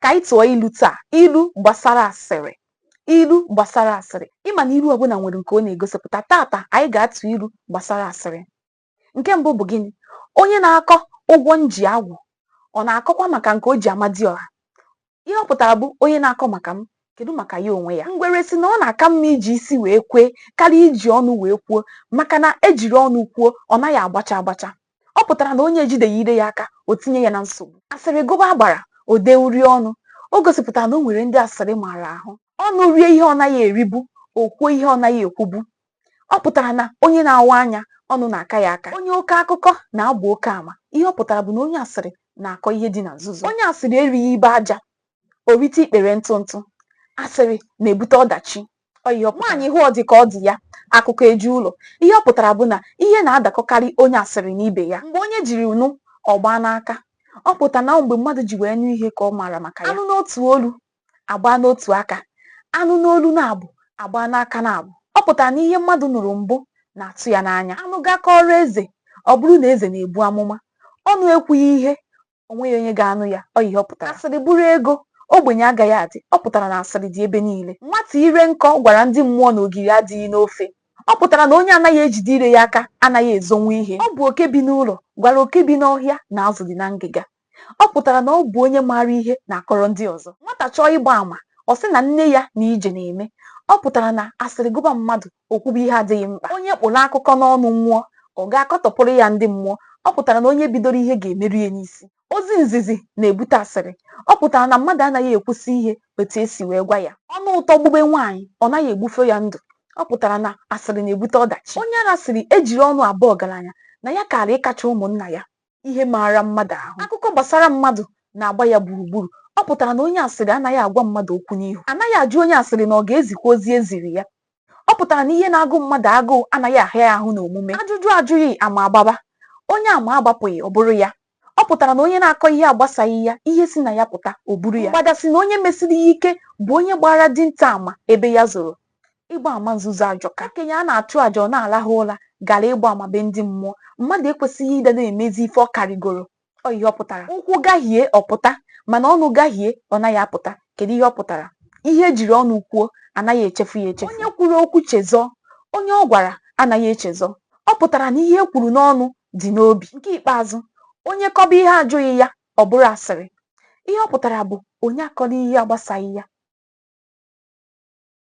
ka anyị tụọ ilu taa ilu gbasara asịrị ilu gbasara asịrị ị ma na ilu ọbụla nwere nke ọ na-egosipụta tata anyị ga-atụ ilu gbasara asịrị nke mbụ bụ gịnị onye na-akọ ụgwọ m ji agwụ ọ na-akọkwa maka nke o ji amadiọha ihe ọ pụtara bụ onye na-akọ maka m kedu maka ya onwe ya ngwere sị na ọ na-aka mma iji isi wee kwee karịa iji ọnụ wee kwuo maka na e jiri ọnụ kwuo ọ naghị agbacha agbacha ọ pụtara na onye ejideghị ire ya aka o tinye ya na nsogbu asịrị gụba agbara o dee uri ọnụ o gosipụtara na o nwere ndị asịrị maara ahụ ọnụ rie ihe ọ naghị eribu o kwuo ihe ọ naghị ekwubu ọ pụtara na onye na-awa anya ọnụ na-aka ya aka onye oke akụkọ na-agba oke ama ihe ọ pụtara bụ na onye asịrị na-akọ ihe dị na nzuzo onye asịrị erighị ibe aja o rite ikpere ntụ ntụ asịrị na-ebute ọdachi nwaanyị hụ ọ dị ka ọ dị ya akụkọ eju ụlọ ihe ọ pụtara bụ na ihe na-adakọkarị onye asịrị na ibe ya mgbe onye jiri nụ ọ gbaa n'aka ọ pụta na mgbe mmadụ ji wee nụ ihe ka ọ maara maka ya a nụ n'otu olu a gbaa n'otu aka a nụ n'olu naabọ a gbaa n'aka naabọ ọ pụtara na ihe mmadụ nụrụ mbụ na-atụ ya n'anya a nụ ga kọọrọ eze ọ bụrụ na eze na-ebu amụma ọnụ ekwughị ihe o nweghị onye ga-anụ ya ọ ihe ọ pụtara asịrị bụrụ ego ogbenye agaghị adị ọ pụtara na asịrị dị ebe niile nwata ire nkọ gwara ndị mmụọ na ogiri adịghị n'ofe ọ pụtara na onye anaghị ejide ire ya aka anaghị ezonwu ihe ọ bụ oke bi n'ụlọ gwara oke bi n'ọhịa na azụ dị na ngịga ọ pụtara na ọ bụ onye maara ihe na-akọrọ ndị ọzọ nwata chọọ ịgba àmà ọ sị na nne ya na ije na-eme ọ pụtara na asịrị gụba mmadụ O kwube ihe adịghị mkpa. Onye kpụrụ akụkọ n'ọnụ nwụọ, ọ ga-akọtọpụrụ ya ndị mmụọ. Ọ pụtara na onye bidoro ihe ga-emeru ya n'isi. Ozi nzizi na-ebute asịrị. Ọ pụtara na mmadụ anaghị ekwusi ihe otu e si wee gwa ya. Ọnụ ụtọ gbube nwaanyị, ọ naghị egbufe ya ndụ. Ọ pụtara na asịrị na-ebute ọdachi. Onye ara sịrị e jiri ọnụ abụ ọgaranya na ya kaara ịkacha ụmụnna ya. ihe maara mmadụ ahụ akụkọ gbasara mmadụ na-agba ya gburugburu ọ pụtara na onye asịrị anaghị agwa mmadụ okwu n'ihu a naghị ajụ onye asịrị na ọ ga-ezikwa ozi e ziri ya ọ pụtara na ihe na-agụ mmadụ agụụ anaghị ahịa ya ahụ n'omume ajụjụ ajụghị ama agbaba onye ama agbapụghị ọ bụrụ ya ọ pụtara na onye na-akọ ihe agbasaghị ya ihe si na ya pụta o buru ya mgbada sị na onye mesiri ya ike bụ onye gbaara dinta ama ebe ya zoro ịgba ama nzuzo ajọka okenye a na-achụ aja ọ na-alahụ ụra gara ịgba ama be ndị mmụọ mmadụ ekwesịghị ịdị na-emezi ife ọ karịgoro ọ ihe ọ pụtara ụkwụ gahie ọ pụta mana ọnụ gahie ọ naghị apụta kedu ihe ọ pụtara ihe e jiri ọnụ kwuo a naghị echefu ya echefu onye kwuru okwu chezọọ onye ọ gwara anaghị echezọ ọ pụtara na ihe e kwuru n'ọnụ dị n'obi nke ikpeazụ onye kọba ihe a jụghị ya ọ bụrụ asịrị ihe ọ pụtara bụ onye akọla ihe agbasaghị ya